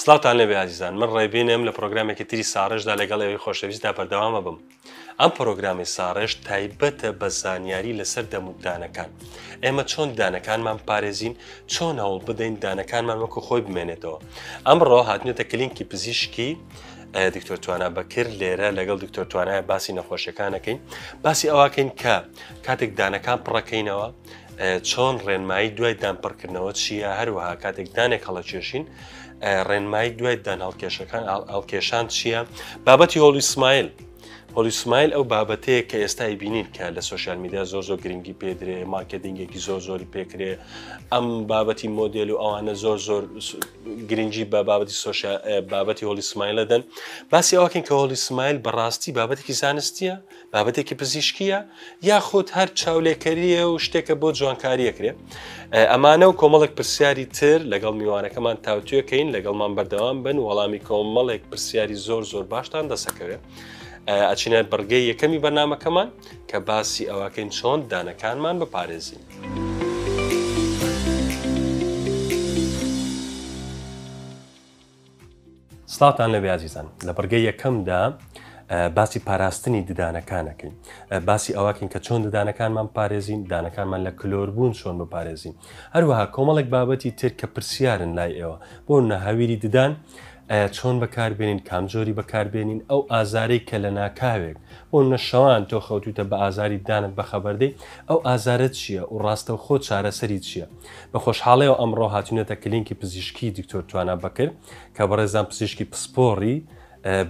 سڵاوتان لێبێ ئازیزان من ڕێبینم لە پرۆگرامێکی تری ساڕێژدا لەگەڵ ئێوەی خۆشەویستدا بەردەوامە بم ئەم پرۆگرامی ساڕێژ تایبەتە بە زانیاری لەسەر دەمودانەکان ئێمە چۆن دانەکانمان پارێزین چۆن هەوڵ بدەین دانەکانمان وەکو خۆی بمێنێتەوە ئەمڕۆ هاتنێتە کلینکی پزیشکی دکتۆر توانە بەکرد لێرە لەگەڵ دکتۆر توانایە باسی نەخۆشیەکانەکەین باسی ئەوکەین کە کاتێک دانەکان پڕەکەینەوە چۆن ڕێنمایی دوای دانپڕکردنەوە چییە هەروەها کاتێک دانێک هەڵەکێشین ڕێنمایی دوای دان هەڵکێشەکان ئەڵکێشان چییە بابەتی هۆڵی سمایل هۆلی سمایل ئەو بابەتەیە کە ئێستای بینین کە لە سوۆسیال میدیا زۆر زۆر گرنگی پێدرێ مارکتینگێکی زۆر زۆری پێکرێ ئەم بابەتی مۆدل و ئەوانە زۆر زۆر گرنگی بە بابەتی سوۆسیال بابەتی هۆلی سمایلەدەن باسی ئەوکەین کە هۆلی سمایل بەڕاستی بابەتێکی زانستیە بابەتێکی پزیشکیە یاخود هەر چاولێکەریە و شتێکە بۆ جوانکاریەکرێ ئەمانە و کۆمەڵێک پرسیاری تر لەگەڵ میوانەکەمان تاوتوێکەین لەگەڵمان بەردەوام بن وەڵامی کۆمەڵێک پرسیاری زۆر زۆر باشتان دەسەکەوێت ئەچینە بڕگەی یەکەمی بەرنمەکەمان کە باسی ئەوەکەین چۆن دانەکانمان بپارێزین. سڵاوتان لەبێ ئازیزان لە بڕگەی یەکەمدا باسی پاراستنی ددانەکانەکەین باسی ئەوەکەین کە چۆن ددانەکانمان پارێزین دانەکانمان لە کلۆر بوون چۆن بپارێزین هەروەها کۆمەڵێک بابەتی تر کە پرسیارن لای ئێوە بۆ نەهاویری ددان چۆن بەکاربێنین کام جۆری بەکاربێنین ئەو ئازارەی کە لە ناکاوێک بۆ نەشەوان تۆ خەوتوتە بە ئازاری دانت بەخەبەردەی ئەو ئازارت چییە و ڕاستەوخۆ چارەسەری چییە؟ بە خۆشحاڵیەوە ئەمڕۆ هاتوینەتە کلینکی پزیشکی دکتۆر توانا بەکر کە بەڕێزان پزیشکی پسپۆڕی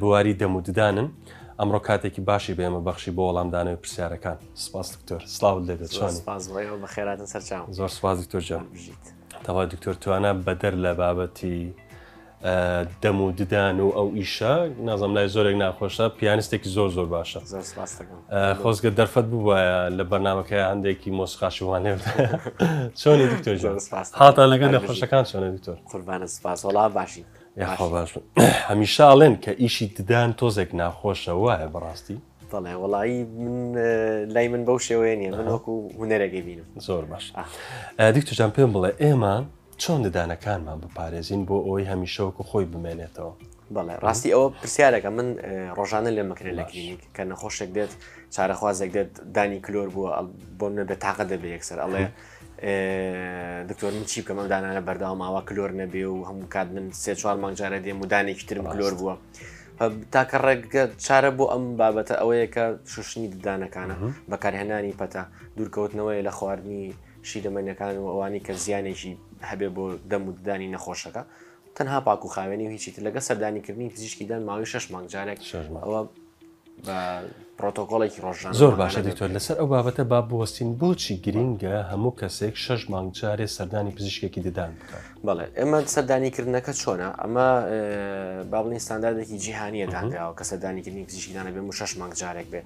بواری دەم و ددانن ئەمڕۆ کاتێکی باشی بە ئێمە بەخشی بۆ وەڵامدانەوەی پرسیارەکان سپاس دکتۆر سلااو لێبێت چۆن سپاس بۆ ئێوە بەخێراتن سەرچاو زۆر سپاس دکتۆر جان بژیت تەوا دکتۆر توانا بەدەر لە بابەتی دەم و ددان و ئەو ئیشە نازم لای زۆرێک ناخۆشە پیانستێکی زۆر زۆر باشە خۆزگە دەرفەت بووە لە بەرنمەکە هەندێکی مۆسقاشی وانێ چۆنی دکتۆر هاتا لەگەر لە خۆشەکان چۆنە دکتۆر قوربانە سپاس وڵا باشی هەمیشە ئاڵێن کە ئیشی ددان تۆزێک ناخۆشە وایە بەڕاستی دەڵێ وڵایی من لای من بەو شێوەیە نیە من وەکو هوەرەگەی بینم زۆر باش دکتۆجان پێم بڵێ ئێمە چۆن ددانەکانمان بپارێزین بۆ ئەوەی هەمیشە وەکو خۆی بمێنێتەوە؟ بەڵێ ڕاستی ئەوە پرسیارەکە من ڕۆژانە لێ مەکرێت لە کلینیک کە نەخۆشێک دێت چارەخوازێک دێت دانی کلۆر بووە بۆ منە بێت تاقە دەبێ یەکسەر ئەڵێ دکتۆر من چی بکەم ئەم دانانە بەرداوا ماوە کلۆر نەبێ و هەموو کات من سێ چوار مانگجارە دێ مودانێکی ترم کلۆر بووە تاکە ڕێگە چارە بۆ ئەم بابەتە ئەوەیە کە شوشنی ددانەکانە بەکارهێنانی پەتا دوورکەوتنەوەی لە خواردنی شیرەمەنیەکان و ئەوانی کە زیانێکی هەبێ بۆ دەم و ددانی نەخۆشەکە تەنها پاک و خاوێنی و هیچی تر لەگە سەردانیکردنی پزیشکی دەن ماوەی شش مانگ جارێک ئەوە بە پرۆتۆکۆڵێکی ڕۆژان زۆر باشە دکتۆر لەسەر ئەو بابەتە با بوەستین بۆچی گرینگە هەموو کەسێک شش مانگ جارێ سەردانی پزیشکێکی ددان بکات بڵێ ئێمە سەردانیکردنەکە چۆنا ئەمە باڵین ستانداردێکی جیهانیە دانراوە کە سەردانیکردنی پزیشکیدانە بێ و شش مانگ جارێک بێ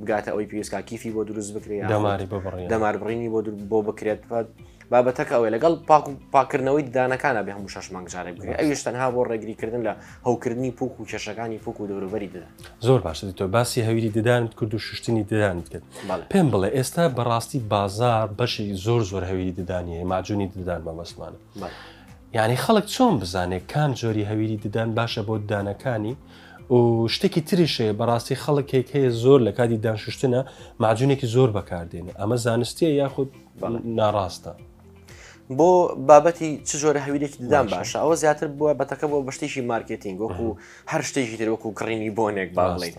بگاتە ئەوەی پێویست کا کیفی بۆ دروست بکرێت یا دەماری ببڕێت. دەمار بڕینی بۆ دروست بۆ بکرێت فەت بابەتەکە ئەوەی لەگەڵ پاک و پاکردنەوەی ددانەکانە بێ هەموو شەش مانگ جارێک بکرێت ئەویش تەنها بۆ ڕێگریکردن لە هەوکردنی پوک و کێشەکانی پوک و دەوروبەری ددان. زۆر باشە دکتۆر باسی هەویری ددانت کرد و شوشتنی ددانت کرد بەڵێ. پێم بڵێ ئێستا بەڕاستی بازار بەشێکی زۆر زۆر هەویری ددانی هەیە ماجونی ددان مەبەستمانە بەڵێ. یانی خەڵک چۆن بزانێ کام جۆری هەویری ددان باشە بۆ ددانەکانی؟ و شتێکی تریش هەیە بەڕاستی خەڵکێک هەیە زۆر لە کاتی دانشتنە ماجونێکی زۆر بەکاردێنێ ئەمە زانستیە یاخود ناڕاستە. بۆ بابەتی چ جۆرە هەویرێکی ددان باشە ئەوە زیاتر بووە بەتەکە بۆ بەشتێکی مارکتینگ وەکو هەر شتێکی تر وەکو گڕینی بۆنێک با بڵێ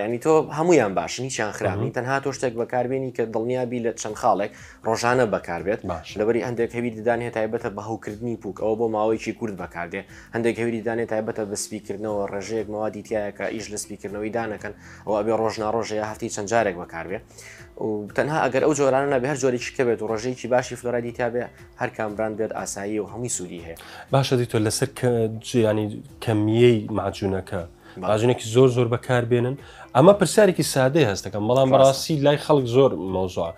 ینی تۆ هەمویان باشن هیچیان خراپین تەنها تۆ شتێک بەکاربیێنی کە دڵنیابی لە چەند خاڵێک ڕۆژانە بەکاربێت لەبەری هەندێک هەوی ددان هێ تایبەتە بە هەوکردنی پوک ئەوە بۆ ماوەیەکی کورد بەکاردێ هەندێک هەوی ددانێ تایبەتە بە سپیکردنەوە ڕێژەیەک مەوادی تایەکە ئیش لە سپیکردنەوەی دانەکەن ئەو ئەبێ ڕۆژنا ڕۆژەیە هەفتی چەند جارێک بەکاربێ و تەنها ئەگەر ئەو جۆرانە نەبێ هەر جۆرێکی کەبێت و ڕۆژەیەکی باشی فلۆرادی تابێ هەر کام براند بێت ئاسایی و هەمووی سوودی هەیە باشە دی تۆ لەسەر ینی کەمیەی ماجوونەکە ماجونێکی زۆر زۆر بەکاربێنن ئەمە پرسیارێکی سادەی هەستەکەم بەڵام بەڕاستی لای خەڵک زۆر مۆزوع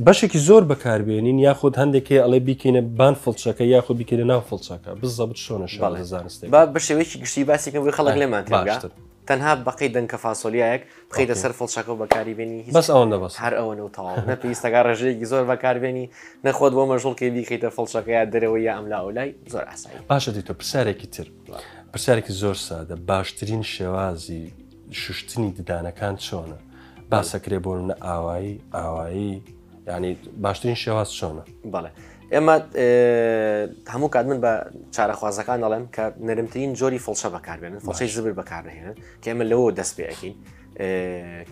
بەشێکی زۆر بەکاربێنین یاخود هەندێکی ئەڵێ بیکەینە بان فڵچەکە یاخود بیکەینە ناو فڵچەکە بزەبت شۆنە شڵ زانست بە شێوەیەکی گشتی باسیکەم بۆی خەڵک لێمان باشتر تەنها بەقەی دەنکە فاسۆلیایەک بخیتە سەر فڵچەکە و بەکاری بێنی بەس ئەوەندە بەس هەر ئەوەنە و تەواو نە پێویستەکە ڕێژەیەکی زۆر بەکاربێنی نەخۆت بۆ مەژوڵکەی بیکەیتە فڵچەکە یا دەرەوەی یا ئەملا ئەولای زۆر ئاسایی باشە دیتۆ پرسیارێکی تر پرسیارێکی زۆر سادە باشترین شێوازی شوشتنی ددانەکان چۆنە باسەکرێ بۆ منە ئاوایی ئاوایی ینی باشترین شێواز چۆنە بەڵێ ئێمە هەموو کات من بە چارەخوازەکان دەڵێم کە نەرمترین جۆری فڵچە بەکاربێنن فڵچەی زبر بەکارنهێنن کە ئێمە لەوە دەست پێەکەین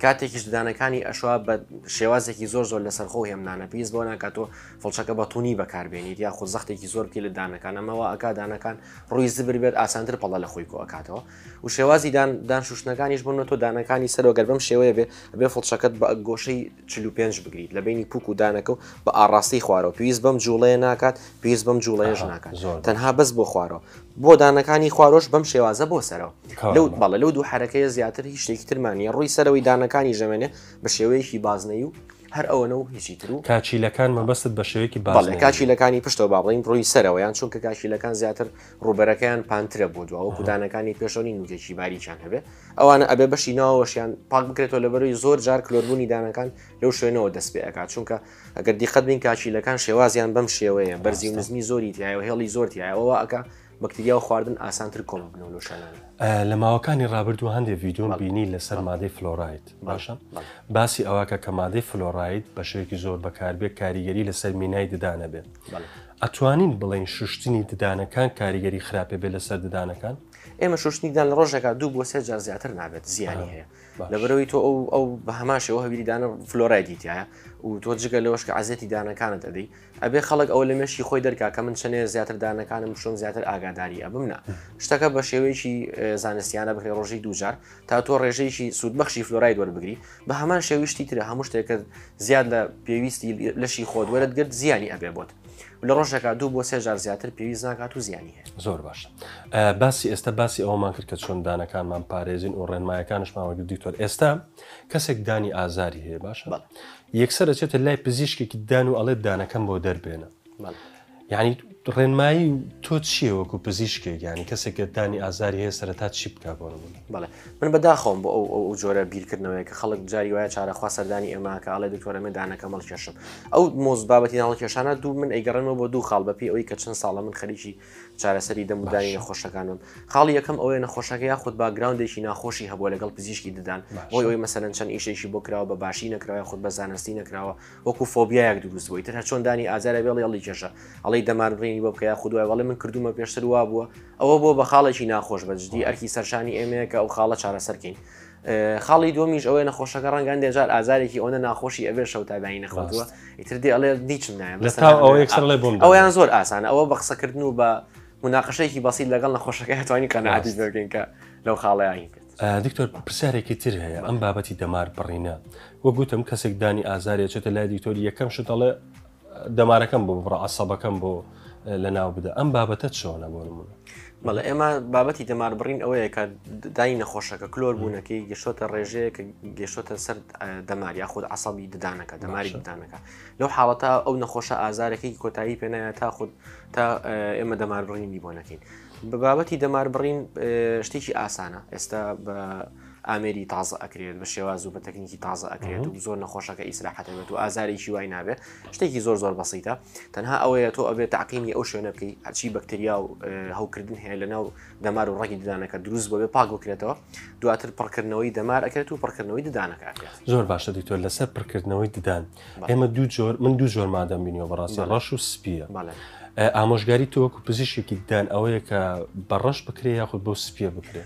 کاتێکیش ددانەکانی ئەشوا بە شێوازێکی زۆر زۆر لەسەر خۆ هێمنانە پێیست بۆ ناکاتۆ فڵچەکە بە تونی بەکاربێنیت یا خۆ زەختێکی زۆر بکە لە دانەکان ئەمەوە ئەکادانەکان ڕووی زبر بێت ئاسانتر پەڵە لە خۆی کۆکاتەوە و شێوازی دان دانشوشتنەکانیش بن تۆ دانەکانی سەرۆگەر بەم شێوەیە بێ بێ فڵچەکەت بە گۆشەی چل و پێنج بگریت لە بینی پوک و دانەکە و بە ئاڕاستەی خوارەوە پێویست بەم جوڵەیە ناکات پێویست بەم جوڵەیەش ناکات تەنها بەس بۆ خوارەوە بۆ دانەکانی خوارۆش بەم شێوازە بۆ سەرەوە لەو بەڵە لەو دوو حرەکەیە زیاتر هیچ شتێکی ترمانە ڕووی سەرەوەی دانەکانی ژەمێنێ بە شێوەیەکی بازنەی و هەر ئەوەنە و هیچی تر و کاچیلەکان مەبەست بە شێوەیەکی باڵێ کاچیلەکانی پشتەوە باڵین ڕووی سەرەوەیان چونکە کاچیلەکان زیاتر ڕووبەرەکەیان پانترە بۆ دوا وەکو دانەکانی پێشەوە نین وجێکی باریکیان هەبێت ئەوانە ئەبێ بەشی ناوەشیان پاک بکرێتەوە لە بەروی زۆر جار کلۆربوونی دانەکان لەو شوێنەوە دەست پێ ئەکات چونکە ئەگەر دیقەت بین کاچیلەکان شێوازیان بەم شێوەیە بەرزی و نزمی زۆری تایە و هێڵی زۆر تایەوە ئەکە بەکتریا و خواردن ئاسانتر کۆم بنەوە لە شانان لە ماوەکانی ڕابردوو هەندێک ڤیددیۆ بینی لەسەر مادەی فلۆراید باشە باسی ئەوەکە کە مادەی فلۆراید بە شێوەیەکی زۆر بەکاربێت کاریگەری لەسەر مینای ددانە بێت ئەتوانین بڵێین شوشتنی ددانەکان کاریگەری خراپێ بێ لەسەر ددانەکان؟ ئێمە شوشتنی ددان لە ڕۆژێکا دوو بۆ سێ جار زیاتر نابێت زیانی هەیە لەبەرەوەی تۆ ئەو ئەو بە هەماشەوە هەویری دانە فلۆرای دیتایە و تۆ جگە لەوەش کە عزیەتی دانەکانت ئەدەی ئەبێ خەڵک ئەو لە مێشی خۆی دەرکا کە من چەنێ زیاتر دانەکانم شوم زیاتر ئاگاداری ئەبم نە شتەکە بە شێوەیەکی زانستیانە بکرێ ڕۆژی دووجار تا تۆ ڕێژەیەکی سوودبەخشی فلۆراید وەربگری بە هەمان شێوی شتی ترە هەموو شتێکت زیاد لە پێویستی لەشی خۆت وەرت گرت زیانی ئەبێ بۆت لە ڕۆژێکا دوو بۆ سێ جار زیاتر پێویست ناکات و زیانی هەیە زۆر باش باسی ئێستا باسی ئەومان کرد کە چۆن دانەکانمان پارێزین و ڕێنمایەکانشماوەگر دیکتۆر ئێستا کەسێک دانی ئازاری هەیە باشە یەکسەر ئەچێتە لای پزیشکێکی دان و ئەڵێ دانەکەم بۆ دەربێنە یانی ڕێنمایی تۆ چیە وەکو پزیشکێک ینی کەسێک گەردانی ئازاری هەیە سەرتا چی بک بۆ بڵێ من بەداخۆم بۆ ئەو ئەو جۆرە بیرکردنەوەی کە خەڵک جاری وایە چارەخوا سەردانی ئێماکە ئەڵێ دکتۆرە من دانەکە مەڵ کێشم ئەو مۆز بابەتی ناڵ کێشانە دوو من ئەیگەڕێنەوە بۆ دوو خاڵ بەپی ئەوی کە چەند ساڵە من خەریکی چارەسەری دەمودانی نەخۆشەکانم خاڵی یەکەم ئەوەیە نەخۆشەکە یاخود باگراوندێکی ناخۆشی هەبووە لەگەڵ پزیشکی ددان بۆی ئەوی مەسەرەن چەند ئیشێکی بۆ کراوە بە باشی نەکراوە خود بە زانستی نەکراوە وەکو فۆبیایەک دروست بووی تەنها چۆن دانی ئازارە بێڵی ئەڵی کێشە ئەڵی دەمار بڕینی بۆ بکە خودوای وڵێ من کردومە پێشتر وا بووە ئەوە بۆ بە خاڵێکی ناخۆش بەجددی ئەرکی سەرشانی ئێمەیە کە ئەو خاڵە چارەسەرکەین خاڵی دومیش ئەوەیە نەخۆشەکە ڕەنگان دێجار ئازارێکی ئەوەنە ناخۆشی ئەبێ شەو تابانی نەخواتوە ئیتر دێ ئەڵێ دیچم نایە ئەویان زۆر ئاسانە ئەوە بە قسەکردن و بە مناقشەیەکی بەسیل لەگەڵ نەخۆشەکە هەتوانی قەنەعاتی بگەین کە لەو خاڵەیانی کرد دکتۆر پرسیارێکی تر هەیە ئەم بابەتی دەمار بڕینە وە گوتم کەسێک دانی ئازارێ چێتە لای دکتۆری یەکەم شتەڵێ دەمارەکەم بۆ بڕە عسەبەکەم بۆ لە ناو بدە ئەم بابەتە چۆنە بۆ نمونە بەڵێ ئێمە بابەتی دەمار بڕین ئەوەیە کە دای نەخۆشەکە کلۆر بوونەکەی گەشتۆتە ڕێژەیە کە گەشتۆتە سەر دەمار یا خود عسەبی ددانەکە دەماری ددانەکە لەو حاڵەتە ئەو نەخۆشە ئازارەکەی کۆتایی پێنایە تا خود تا ئێمە دەمار بڕینی بۆ نەکەین بە بابەتی دەمار بڕین شتێکی ئاسانە ئێستا بە ئامێری تازە ئەکرێت بە شێواز و بە تەکنیکی تازە ئەکرێت و زۆر نەخۆشەکە ئیسراحەتەبێت و ئازارێکی وای نابێ شتێکی زۆر زۆر بەسیتە تەنها ئەوەیە تۆ ئەبێت تاقینی ئەو شوێنە بکەی هەچی بەکتریا و هەوکردن هەیە لە ناو دەمار و ڕگی ددانەکە دروست بۆێ پاک بکرێتەوە دواتر پڕکردنەوەی دەمار ئەکرێت و پڕکردنەوەی ددانەکە زۆر باشە دکتۆر لەسەر پڕکردنەوەی ددان ئێمە دوو جۆر من دوو جۆر مادەم بینیەوە بەڕاستی ڕەش و سپیە ئامۆژگاری تۆوەکو پزیشێکی دان ئەوەیە کە بە ڕەش بکرێ یاخود بۆ سپیە بکرێ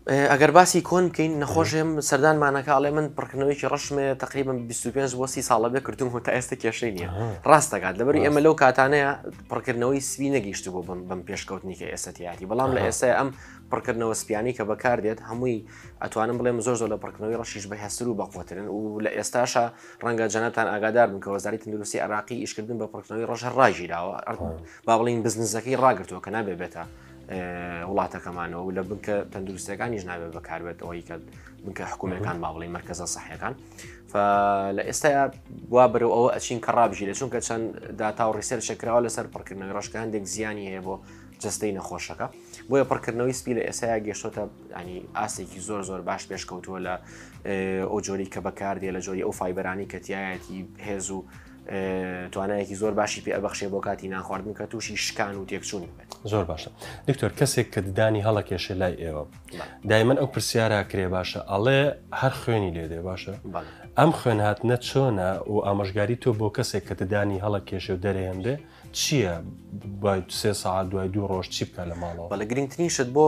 ئەگەر باسی کۆن بکەین نەخۆشێم سەردانمانەکە ئەڵێ من پڕکردنەوەیکی ڕشمێ تقریبم 25 بۆ سی ساڵە بێ کردوم هۆ تا ئێستا کێشەی نییە ڕاستەکات لەبەر ئێمە لەو کاتانەیە پڕکردنەوەی سوی نەگەیشت بۆ بم بم پێشکەوتنی کە ئێستایەتی بەڵام لە ئێستا ئەم پڕکردنەوە سپیانی کە بەکاردێت هەمووی ئەتوانم بڵێم زۆر زۆر لە پڕکردنەوەی ڕەشیش بە هەستر و بەقوترن و لە ئێستاشە ڕەنگە جەنەتان ئاگادار بن کە وەزاری تەندروستی عراقی ئیشکردن بە پڕکردنەوەی ڕەش هەر ڕاگیراوە با بڵین بزنزەکەی ڕاگرتووە کە نابێ بێتە وڵاتەکەمانەوە لە بنکە تەندروستەکانیش نابێت بەکاربێت ئەوەی کە بنکە حکوومەکان با بڵین مرکزە سەحەکان لە ئێستا وا بەرەوە ئەوە ئەچین کە ڕابژیرە چونکە چەند داتا و ڕیسەر شکراوە لەسەر پڕکردنەوەی ڕشکە هەندێک زیانی هەیە بۆ جستەی نەخۆشەکە. بۆیە پڕکردنەوەی سپی لە ئێسایا گەشتۆتە ینی ئاستێکی زۆر زۆر باش پێشکەوتووە لە ئەو جۆری کە بەکاردێ لە جۆری ئەو فیبەرانی کەتیایەتی هێز و توانایەکی زۆر باشی پێ ئەبخشێ بۆ کاتی ناخواردن کە تووشی شکان و تێکچوونی بێت زۆر باشە دکتۆر کەسێک کە ددانی هەڵەکێشە لای ئێوە دایمەن ئەو پرسیارە کرێ باشە ئەڵێ هەر خوێنی لێ دێ باشە ئەم خوێن هاتنە چۆنە و ئامۆژگاری تۆ بۆ کەسێک کە ددانی هەڵە کێشێ و دەرێن بێ چییە دوای سێ ساعت دوای دوو ڕۆژ چی بکە لە ماڵەوە بەڵە گرنگترین شت بۆ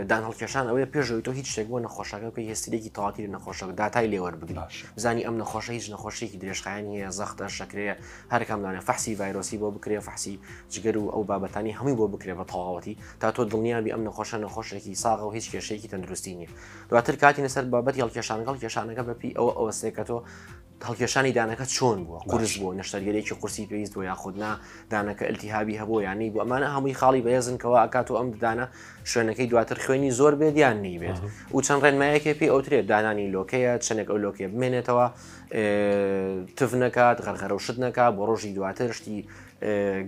دان هەڵکێشان ئەوەیە پێشەوەی تۆ هیچ شتێک بۆ نەخۆشەکە بکە هێسترێکی تاواتی لە نەخۆشە داتای لێوەەر بگلاش زانی ئەم نەخۆشە هیچ نەخۆشیێکی درێژخایانی هەیە زەختە شەکرەیە هەرکامدانە فەحسی ڤایرۆسی بۆ بکرێ فەحسی جگەر و ئەو بابەتانی هەمووی بۆ بکرێ بە تەواوەتی تا تۆ دڵنیابی ئەم نەخۆشە نەخۆشێکی ساغە و هیچ کێشەیەکی تەندروستی نیە دواتر کاتی نەسەر بابەتی هەڵکێشانگەڵ کێشانەکە بەپی ئەوە ئەوە سێکە تۆ هەڵکێشانی دانەکە چۆن بووە قورس بووە نەشتەرگەرێکی قورسی پێویست بۆ یاخود نا دانەکە التیهابی هەبوو یانی بۆ ئەمانە هەمووی خاڵی بەهێزنکەوە ئەکات و ئەم ددانە شوێنەکەی دواتر خوێنی زۆر بێت یان نیبێت و چەند ڕێنمایەکێ پێی ئەوترێت دانانی لۆکەیە چەندێک ئەو لۆکێ بمێنێتەوە تف نەکات غەرغەرە و شت نەکە بۆ ڕۆژی دواتر شتی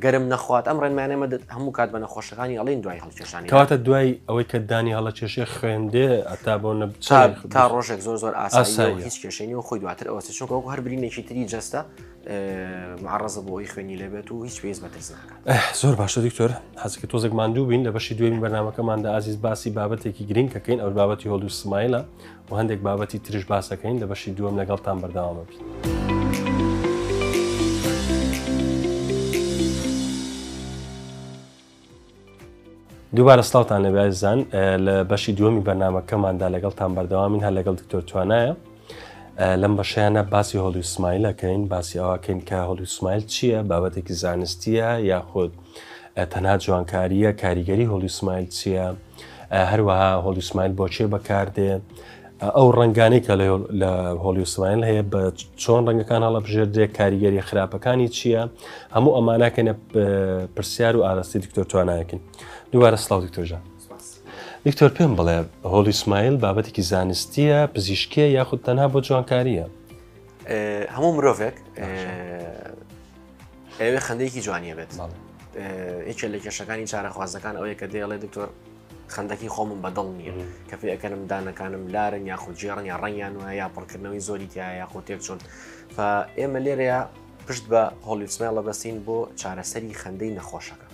گەرم نەخوات ئەم ڕێنمانە مەدەت هەموو کات بە نەخۆشەکانی ئەڵین دوای هەڵکێشانی کاتە دوای ئەوەی کە دانی هەڵە کێشێ خوێندێ ئەتا بۆ نە تا ڕۆژێک زۆر زۆر ئاسایی هیچ کێشێنی و خۆی دواتر ئەوە چونکە وەکو هەر برینێکی تری جەستە معڕزە بۆ ئەوی خوێنی لەبێت و هیچ پێز بەترس ناکات زۆر باشە دکتۆر حەزکە تۆزێک ماندوو بین لە بەشی دوێن بەرنمەکەماندا ئازیز باسی بابەتێکی گرنگکەکەین ئەو بابەتی هۆڵ و سمایلە و هەندێک بابەتی ترش باسەکەین لە بەشی دووەم لەگەڵتان بەرداوامە بین. دووبارە سلااوان لە بازان لە بەشی دووەمی بەرنمەکەماندا لەگەڵتان بەردەوامین هەر لەگەڵ دکتۆر توانایە لەم بەشیانە باسی هۆڵی سمایلەکەین باسی ئەوکەین کە هۆڵی سمایل چییە بابەتێکی زانستیە یاخود تەنها جوانکارییە کاریگەری هۆڵی سمایل چییە هەروەها هۆڵی سمایل بۆچێ بەکاردێ ئەو ڕنگانی کە لە هۆڵی سمایل هەیە بە چۆن ڕنگەکان هەڵە بژێردێ کاریگەری خراپەکانی چییە هەموو ئەمانەکەنە پرسیار و ئاراستی دکتۆر توانایەکن دووارە سلااو دکتۆژە دکتۆر پێم بڵێ هۆڵی سمایل بابەتێکی زانستیە پزیشکە یاخود تەنها بۆ جوانکاریە هەموو مرۆڤێک ئەوێ خەندێکی جوانیە بێت یەکێ لە کێشەکانی چارەخوازەکان ئەوەیە کە دێڵێ دکتۆر خندەکی خۆمم بەدڵ نییە کە پێ ئەەکەنم دانەکانم لارن یاخود جێڕن یا ڕەنگیان وە یا پڕکردنەوەی زۆری تیا یاخۆ تێک چۆن ئێمە لێرەیە پشت بە هۆلیسمێڵە بەستین بۆ چارەسەری خەندەی نەخۆشەکە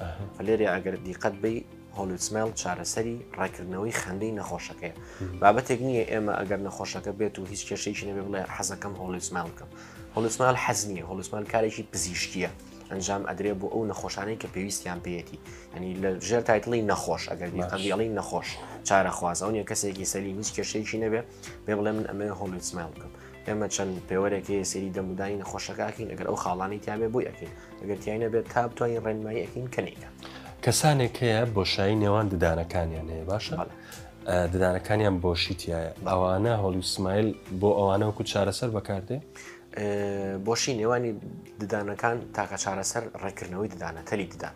لێرە ئەگەر دیقەت بی Holy Smell چارەسەری ڕێکردنەوەی خەندەی نەخۆشەکەیە بابەتێک نییە ئێمە ئەگەر نەخۆشەکە بێت و هیچ کێشەیەکی نەبێ بڵێ حەزەکەم Holy Smell بکەم Holy Smell حەز نییە Holy Smell کارێکی پزیشکیە ئەنجام ئەدرێ بۆ ئەو نەخۆشانەی کە پێویستیان پێەتی ینی لە ژێر تایتڵی نەخۆش ئەگەر قەندیڵی نەخۆش چارە خوازەوە نیە کەسێکی سەلی هیچ کێشەیەکی نەبێ بێ بڵێ من ئەمێ هۆڵی سمێڵ بکەم ئێمە چەند پێوەرێک هەیە سەیری دەمودانی نەخۆشەکە ئەکەین ئەگەر ئەو خاڵانی تیاێ بۆی ئەکەین ئەگەر تیای نەبێت تا بتوانین ڕێنمایی ئەکەین کە نیکە کەسانێک هەیە بۆشایی نێوان ددانەکانیان هەیە باشە ددانەکانیان بۆشیتیایە ئەوانە هۆڵی سمایل بۆ ئەوانە وەکو چارەسەر بەکاردێ بۆشی نێوانی ددانەکان تاکە چارەسەر ڕێکردنەوەی ددانە تەلی ددان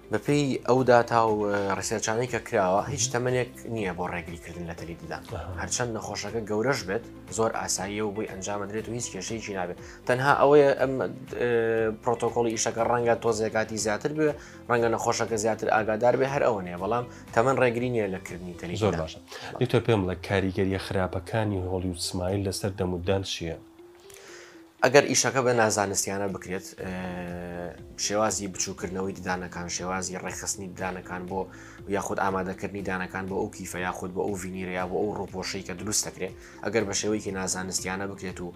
بەپێی ئەو داتا و ڕیسێرچانەی کە کراوە هیچ تەمەنێک نییە بۆ ڕێگریکردن لە تەلی ددان هەرچەند نەخۆشەکە گەورەش بێت زۆر ئاساییە و بۆی ئەنجامەدرێت و هیچ کێشەیەکی نابێت تەنها ئەوەیە ئەم پرۆتۆکۆڵی ئیشەکە ڕەنگە تۆزێکاتی زیاتر بێ ڕەنگە نەخۆشەکە زیاتر ئاگادار بێ هەر ئەوەنێ بەڵام تەمەن ڕێگری نیە لە کردنی تەلی زۆر باشە دکتۆر پێم بڵێ کاریگەریە خراپەکانی هۆڵیود سمایل لەسەر دەموددان چییە؟ ئەگەر ئیشەکە بە نازانستیانە بکرێت شێوازی بچووکردنەوەی ددانەکان شێوازی ڕێکخستنی ددانەکان بۆ یاخود ئامادەکردنی دانەکان بۆ ئەو کیفە یاخود بۆ ئەو ڤینیرەیە بۆ ئەو ڕوپۆشەی کە دروست دەکرێت ئەگەر بە شێوەیەکی نازانستیانە بکرێت و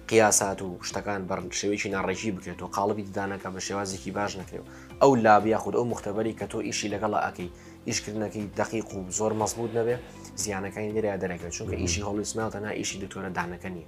قیاسات و شتەکان بە شێوەیەکی ناڕێکی بکرێت و قاڵبی ددانەکە بە شێوازێکی باش نەکرێت ئەو لابیا خود ئەو مختبەری کە تۆ ئیشی لەگەڵە ئەەکەی ئیشکردنەکەی دقیق و زۆر مەزبوط نەبێت زیانەکانی لێرە دەرەکەوێت چونکە ئیشی هەڵویسماڵ تەنها ئیشی دکتۆرە دانەکە نیە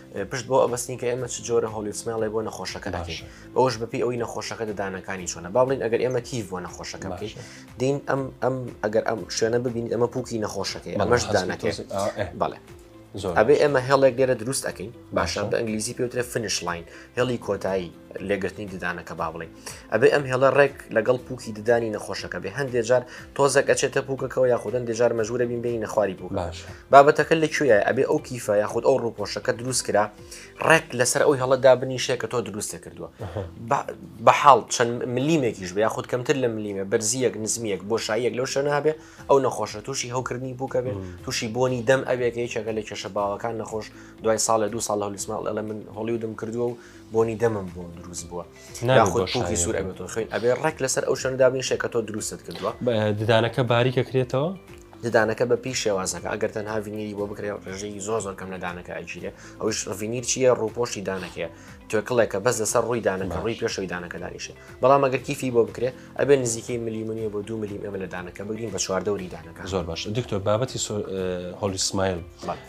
پشت بۆ ئەبستین کە ئێمە چ جۆرە هۆلیسمێڵێ بۆ نەخۆشەکە دەکەین بەوەش بەپی ئەوی نەخۆشەکە دەدانەکانی چۆنە باڵین ئەگەر ئێمە کیف بۆ نەخۆشەکە بکەین دین ئەم ئەم ئەگەر ئەم شوێنە ببین ئەمە پوکی نەخۆشەکەی ئەمەش دانەکەێت بەڵێ ئەبێ ئێمە هێڵێک لێرە دروست ئەەکەین باشە بە ئەنگلیزی پێوترێ فنش لاین هێڵی کۆتایی لێگرتنی ددانەکە با بڵێ ئەبێ ئەم هێڵە ڕێک لەگەڵ پوکی ددانی نەخۆشەکە بێ هەندێک جار تۆزەک ئەچێتە پوکەکەەوە یاخودن دێجار مەژورە بین بینی نەخواری بوو باش بابەتەکە لە کوێە ئەبێ ئەو کیفە یاخود ئەو ڕوپۆشەکە دروست کرا ڕێک لەسەر ئەو هێڵەدا بنیشێ کە تۆ دروستە کردووە بە حاڵ چەند ملیمێکیش بە یاخود کەمتر لە ملیمە بەرزیەک نزمیەک بۆ شایەک لەو شەنابێ ئەو نەخۆشە تووشی هەوکردنی بووکە بێت تووشی بۆنی دەم ئەوێکە یەکێکە لە کێشە باوەکان نەخۆش دوای ساڵە دو ساڵ هەلیسماڵ ئەلە من هۆڵیودم کردووە و بۆنی دەمم بۆ دروست بووە ناخۆ شوی سوور ئەبێتەوە خوێن ئەبێ ڕێک لەسەر ئەو شوێن دابنی شێکە تۆ دروستت کردووە ددانەکە باریکە کرێتەوە ددانەکە بە پێی شێوازەکە ئەگەر تەنها ڤینیری بۆ بکرێت ڕژەی زۆ زۆر کەم لە دانەکە ئەگیرێ ئەوش ڤینیر چیە ڕووپۆشی دانەکەیە توێکڵێکە بەس لەسەر ڕووی دانەکە ڕووی پێشەوەی دانەکە دانیشێ بەڵام ئەگەر کیفی بۆ بکرێت ئەبێ نزیکەی ملیمنیە بۆ دو ملیم ئەمە لە دانەکە بگرین بە چواردەوری دانەکە زۆر باش دکتۆر بابەتی هۆلی سمایل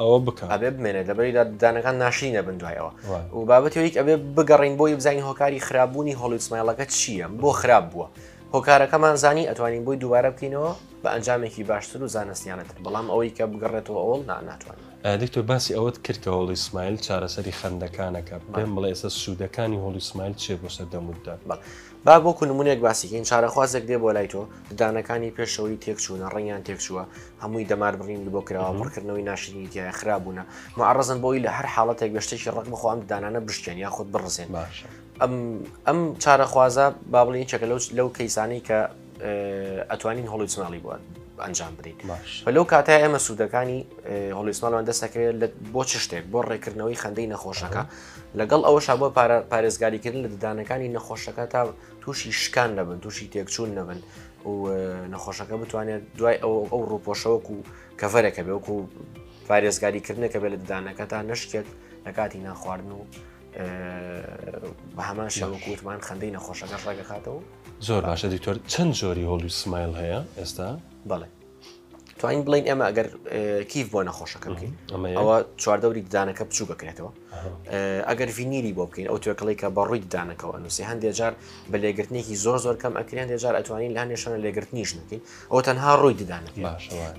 ئەوە بکە ئەبێ بمێنێت لەبەری دانەکان ناشرین دەبن دوایەوە و بابەتەوەیک ئەبێ بگەڕین بۆی بزانین هۆکاری خراپبوونی هۆڵیسمایلەکە چییە بۆ خراپ بووە هۆکارەکەمان زانی ئەتوانین بۆی دووبارە بکەینەوە بە ئەنجامێکی باشتر و زانستیانەتر بەڵام ئەوەی کە بگەڕێتەوە ئەوڵ ناتوان دکتۆر باسی ئەوەت کرد کە هۆڵی سمایل چارەسەری خەندەکانەکە بێن بڵێ ئێستا سوودەکانی هۆڵی سمایل چێ بۆ سەردەموددا با وەکو نمونەیەک باسی کەین، چارەخوازێک دێ بۆ لای تۆ، ددانەکانی پێشەوەی تێکچوونە، ڕەنگیان تێکچووە، هەمووی دەمار بڕینی بۆ کراوە، پڕکردنەوەی ناشرینی تیایە، خراپ بوونە، موعەڕەزن بۆ ئەوی لە هەر حاڵەتێک بێ شتێکی ڕەق بخوا ئەم ددانانە بشکێن یاخود بڕزێن. باشە. ئەم ئەم چارەخوازە با بڵێین یەکێکە لەو لەو کەیسانەی کە. ئەتوانین هۆڵیسماڵی بووە ئەنجام بدەین بە لەو کاتە ئێمە سوودەکانی هۆڵیسماڵوان دەستەکەوێت لە بۆ چ شتێک بۆ ڕێکردنەوەی خەندەی نەخۆشەکە لەگەڵ ئەوەش بۆ پارێزگاریکردن لە ددانەکانی نەخۆشەکە تا تووشی شکان نەبن تووشی تێکچوون نەبن و نەخۆشەکە بتوانێت دوای ئەو ئەو ڕوپۆشەوەک و کەڤەرەکە بێوەکو پارێزگاریکردنەکە بێت لە ددانەکە تا نشکێت لە کاتی ناخواردن و بە هەمان شەوەکووتمان خەندەی نەخۆشەکە ڕێگەخاتەوە زۆر باشە دکتۆر چەند جۆری هۆڵی سمایل هەیە ئێستا بڵێ توانین بڵین ئێمە ئەگەر کیف بۆ نەخۆشەکە بکەین ئەوە چواردەوری ددانەکە بچوو بکرێتەوە ئەگەر ڤینیری بۆ بکەین ئەو توێکڵی کە بەڕووی ددانەکەەوە نووسی هەندێک جار بە لێگرتنێکی زۆر زۆر کەم ئەکرێن دێجار ئەتوانین لە هەندێشانە لێگرتنیش نکەین ئەو تەنها ڕووی ددانە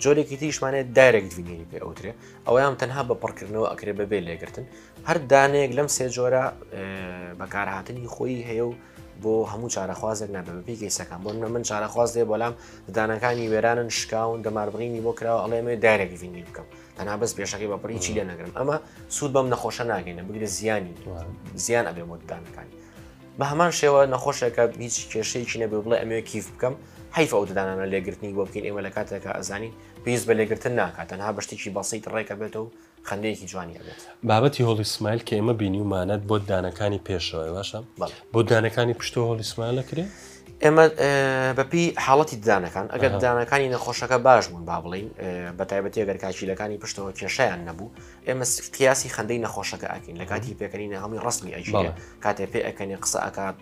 جۆرێکی تریشمانێت دایرێک ڤینیری پێ ئەوترێ ئەویان تەنها بە پڕکردنەوە ئەکرێ بەبێ لێگرتن هەر دانەیەک لەم سێ جۆرە بەکارهاتنی خۆی هەیە و بۆ هەموو چارەخوازێک نابێت بە پێی کەیسەکان بۆ من چارەخواز دێ بەڵام ددانەکانی وێرانن شکاون دەماربڕینی بۆ کراوە ئەڵێمێ دایرێک ڤینی بکەم تەنا بەس پێشەکەی بەپڕی چی لێ نەگرم ئەمە سوود بەم نەخۆشە ناگەینە بگرە زیانی زیان ئەبێ بۆ ددانەکانی بە هەمان شێوە نەخۆشێکە هیچ کێشەیەکی نەبێ بڵێ ئەمێ کیف بکەم حیف ئەو ددانانە لێگرتنی بۆ بکەین ئێمە لە کاتێکە ئەزانین پێویست بە لێگرتن ناکات تەنها بەشتێکی بەسییت ڕێکە بێتەوە خەندەیەکی جوانی ئەبێت. بابەتی هۆڵی سمایل کە ئێمە بینیومانەت بۆ ددانەکانی پێشەوەی باشە؟ بەڵێ. بۆ ددانەکانی پشتەوە هۆڵی سمایل ئەکرێ؟ ئێمە بەپێی حاڵەتی ددانەکان ئەگەر ددانەکانی نەخۆشەکە باش بوون با بڵێین بە تایبەتی ئەگەر کاکیلەکانی پشتەوە کێشیان نەبوو ئێمە قیاسی خەندەی نەخۆشەکە ئەکەین لە کاتی پێکەنینە هەڵی ڕستنی ئەژی بەڵێ. کاتێ پێ ئەکەنێ قسە ئەکات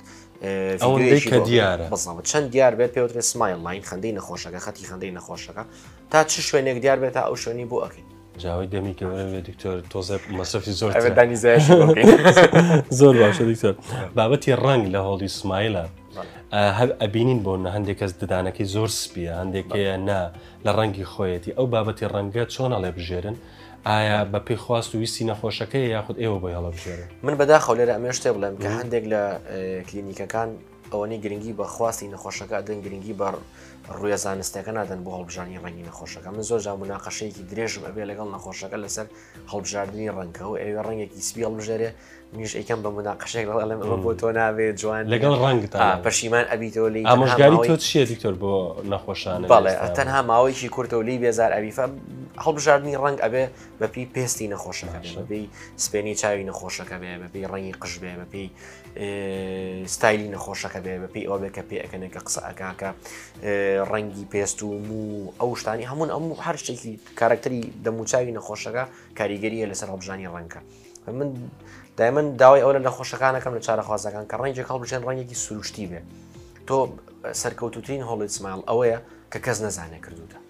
ئەو ڤیدیۆیەکی هەندەی کە بۆ- دیارە بەڵام چەند دیار بێت پێوترێ سمایل لاین خەندەی نەخۆشەکە خەتی خەندەی نەخۆشەکە تا چ شوێنێک دیار بێت تا ئەو شوێنی بۆ ئەکەین جاوی دەمی گەورە دکتۆر تۆزە مەسەفی زۆر زۆر باشە دکتۆر بابەتی ڕنگ لە هۆڵی سمایلە هەر ئەبینین بۆ نە هەندێک کەس ددانەکەی زۆر سپیە هەندێکەیە نا لە ڕەنگی خۆیەتی ئەو بابەتی ڕەنگە چۆن هەڵێ بژێرن ئایا بە پێی خواست و ویستی نەخۆشەکەی یاخود ئێوە بۆی هەڵە بژێرن من بەداخەو لێرە ئەمێش تێ بڵێم کە هەندێک لە کلینیکەکان ئەوەنەی گرنگی بە خواستی نەخۆشەکە ئەدەن گرنگی بە ڕویە زانستەکە نادەن بۆ هەڵبژانی ڕەنگی نەخۆشەکە من زۆر جا مناقەشەیەکی درێژم ئەبێ لەگەڵ نەخۆشەکە لەسەر هەڵبژاردننی ڕەنگە و ئەوێ ڕەنگێکی سپی هەڵبژێرێ منیش ئەیکەم بە مناقەشێک لەڵێم ئەمە بۆ تۆ نابێ جوان لەگەڵ ڕەنگ پەشیمان ئەبیتەوە لی ئامۆژگاری تۆ چیە دکتۆر بۆ نەخۆشان بەڵێ تەنها ماوەیەکی کورتەوە لی بێزار ئەویفە هەڵبژاردننی ڕەنگ ئەبێ بەپی پێستی نەخۆشەکە بەپی سپێنی چاوی نەخۆشەکە بێ بەپی ڕەنگی قژ بێ بەپی ستایلی نەخۆشەکە بێ بە پێی ئەوێ کە پێ ئەەکەنێک کە قسە ئەکاکە ڕەنگی پێست و مو ئەو شتانی هەمون ئەم هەر شتێکی کارکتەری دەموچوی نەخۆشەکە کاریگەریە لەسەر هەڵبژانی ڕەنگە من دایمن داوای ئەو لە نەخۆشەکانەکەم لە چارەخوازەکان کە ڕەنگێک هەڵبژێن ڕەنگێکی سروشتی بێ تۆ سەرکەوتوترین هۆڵی سمال ئەوەیە کە کەس نەزانێ کردوتە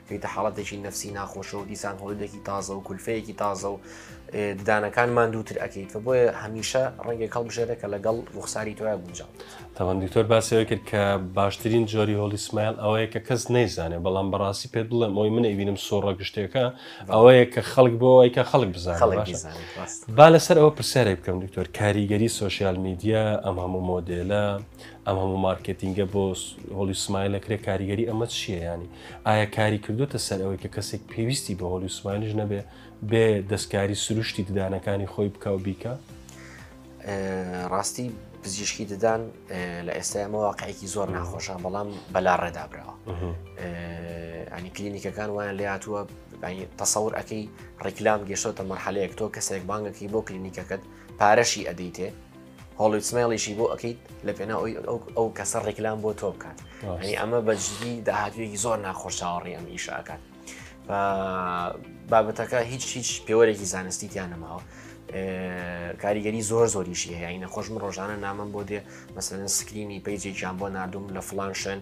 چونکە حاڵەتێکی نەفسی ناخۆشە و دیسان هۆڵیدێکی تازە و کولفەیەکی تازە و ددانەکان ماندووتر ئەەکەیت کە بۆیە هەمیشە ڕەنگێک هەڵبژێرە کە لەگەڵ ڕوخساری تۆیا گونجاو تاوان دکتۆر باسەوە کرد کە باشترین جۆری هۆڵی سمایل ئەوەیە کە کەس نەیزانێ بەڵام بەڕاستی پێت بڵێم ئەوی من ئەبینم سۆڕە گشتێکە ئەوەیە کە خەڵک بۆەوەی کە خەڵک بزان با لەسەر ئەوە پرسیارێک بکەم دکتۆر کاریگەری سوسیال میدیا ئەم هەموو مۆدێلە ئەم هەموو مارکتینگە بۆ هۆلی سمایلە کرێ کاریگەری ئەمە چییە ینی ئایا کاری کردوتە سەر ئەوەی کە کەسێک پێویستی بە هۆلی سمایلش نەبێ بێ دەستکاری سروشتی ددانەکانی خۆی بکە و بیکە ڕاستی پزیشکی ددان لە ئێستا ئەمە واقعێکی زۆر ناخۆشە بەڵام بەلا ڕێدابراوە ئەنی کلینیکەکان وایان لێ هاتووە تەسەور ئەەکەی ڕیکلام گەشتۆتە مەرحەلەیەک تۆ کەسێک بانگەکەی بۆ کلینیکەکەت پارەشی ئەدەیتێ هۆڵیت سمێڵیشی بۆ ئەەکەیت لە پێنا ئەوی ئەو کەسە ڕێکلام بۆ تۆ بکات ئەنی ئەمە بەجددی داهاتوێکی زۆر ناخۆش چاوەڕی ئەم ئیشاکات بابەتەکە هیچ هیچ پێوەرێکی زانستی تیان نەماوە کاریگەری زۆر زۆریشی هەیە یعنی نەخۆشم ڕۆژانە نامم بۆ دێ مەسەن سکرینی پیجێکیان بۆ نردوم لە فلان شوێن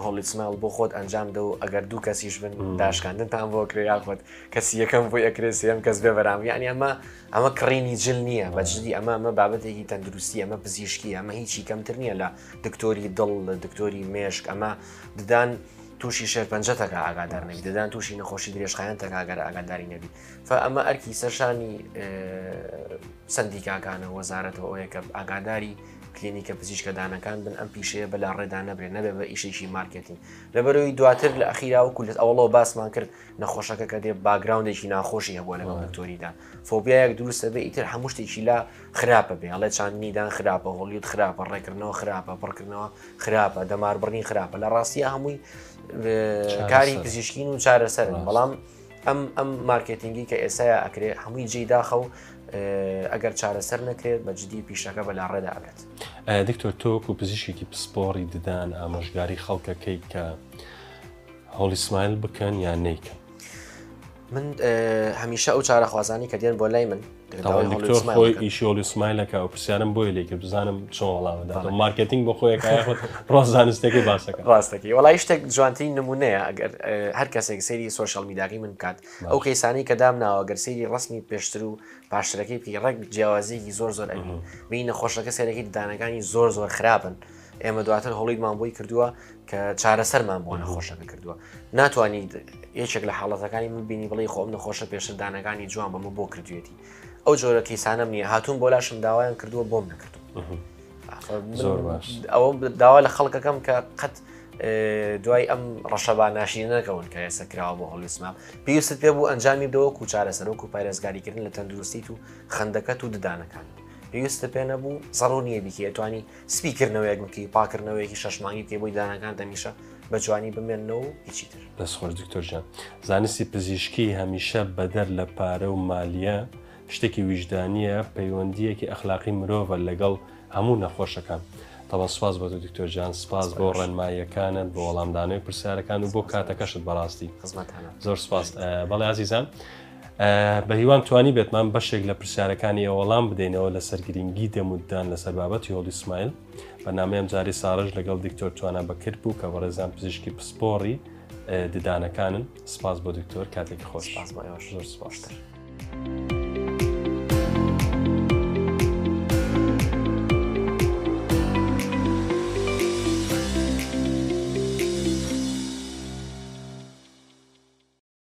هۆڵیسمال بۆ خۆت ئەنجام دە و ئەگەر دوو کەسیش بن داشکاندنتان بۆ کرێ یاخۆت کەسی یەکەم بۆ ئەکرێ سێم کەس بێ بەرام یعنی ئەمە ئەمە کڕینی جل نییە بە جدی ئەمە ئەمە بابەتێکی تەندروستی ئەمە پزیشکی ئەمە هیچی کەمتر نییە لە دکتۆری دڵ لە دکتۆری مێشک ئەمە ددان تووشی شێرپەنجە تەکە ئاگادار نەبی دەدان تووشی نەخۆشی درێژخایەن تەکگەر ئاگاداری نەبی فە ئەمە ئەرکی سەرشانی سندیکاکانە وەزارەتەوە ئەوەیە کە ئاگاداری کلینیکە پزیشکەدانەکان بن ئەم پیشەیە بەلا ڕێدا نەبرێ نەبێ بە ئیشێکی مارکتین لەبەرەوەی دواتر لە ئەخیراوە کولت ئەوڵەوە باسمان کرد نەخۆشەکە کە دێ باگراوندێکی ناخۆشی هەبووە لەگەڵ دکتۆریدا فۆبیایەک دروستە بێ ئیتر هەموو شتێکی لا خراپە بێ هەڵێ چاندنیدان خراپە هۆڵیوت خراپە ڕێکردنەوە خراپە پڕکردنەوە خراپە دەماربڕین خراپە لە ڕاستیە هەمووی کاری پزیشکین و چارەسەرن بەڵام ئەم ئەم مارکتینگی کە ئێسایا ئەکرێ هەمووی جێ داخە و ئەگەر چارەسەر نەکرێت بە جددی پیشەکە بە لاڕێدا ئەبێت دکتۆر تۆک و پزیشێکی پسپۆڕی ددان ئامۆژگاری خەڵکەکەی کە هۆڵی سمایل بکەن یان نیکەن من هەمیشە ئەو چارە خوازانی کە دێن بۆ لای من خۆی ئیشۆلی سمایلەکە و پرسیارم بۆی لێکە بزانم چۆن وڵامەدا مارکتنگ بۆ خۆیەکە ڕۆزانستەکەی باسەکە ڕاستەکە وڵی شتێک جوانتری نمونەیە ئەگەر هەر کەسێک سەیری سوۆشال میداگەی من بکات ئەو کەیسانی کە دام ناوە گەر سەیری ڕسمی پێشتر و پاشترەکەی بکەی ڕێک جیاوازیەکی زۆر زۆر ئەبین بینە خۆشەکە سێرەکەی ددانەکانی زۆر زۆر خراپن ئێمە دواتر هەڵیمان بۆی کردووە کە چارەسەرمان بۆ نەخۆشەکە کردووە ناتوانانی یەکێک لە حاڵەتەکانی من بینی بڵی خۆم نەخۆشە پێشدانەکانی جوان بەمە بۆ کردوێتی ئەو جۆرە کەیسانم نییە هاتوون بۆ لاشم داوایان کردووە بۆم نەکردو زۆر باش ئەوە داوا لە خەڵکەکەم کە قەت دوای ئەم ڕەشەبا ناشی نەکەون کە ئێستا کراوە بۆ هەڵیسمام پێویست پێ بوو ئەنجامی دەوە و چارە سەرۆک و پارێزگاریکردن لە تەندروستیت و خندەکەت و ددانەکان پێویستە پێ نەبوو زەڕۆ نییە بیکێتوانی سپی کردنەوەیەک بکەی و پاکردنەوەیەکی شەش مانگی بکەی بۆی دانەکان دەمیشە بە جوانی بمێنەوە و هیچی تر دەست خۆش دکتۆر جان زانستی پزیشکی هەمیشە بەدەر لە پارە و مالیە شتێکی ویژدانیە پەیوەندیەکی ئەخلاقی مرۆڤە لەگەڵ هەموو نەخۆشەکان تەڵە سپاس بۆ دکتۆر جان سپاس بۆ ڕێنماییەکانت بۆ وەڵامدانەوەی پرسیارەکان و بۆ کاتەکەشت بەڕاستی زۆر سپاس بەڵێ عزیزان بە هیوام توانیبێتمان بەشێک لە پرسیارەکانی ئێوە وەڵام بدەینەوە لەسەر گرنگی دەموددان لەسەر بابەتی هۆڵی سمایل بەنامەیەم جاری ساڕژ لەگەڵ دکتۆر توانا بەکرد بوو کە بەڕێزان پزیشکی پسپۆڕی ددانەکانن سپاس بۆ دکتۆر کاتێکی خۆش سپاس بۆ ئێوەش زۆر سپاستر.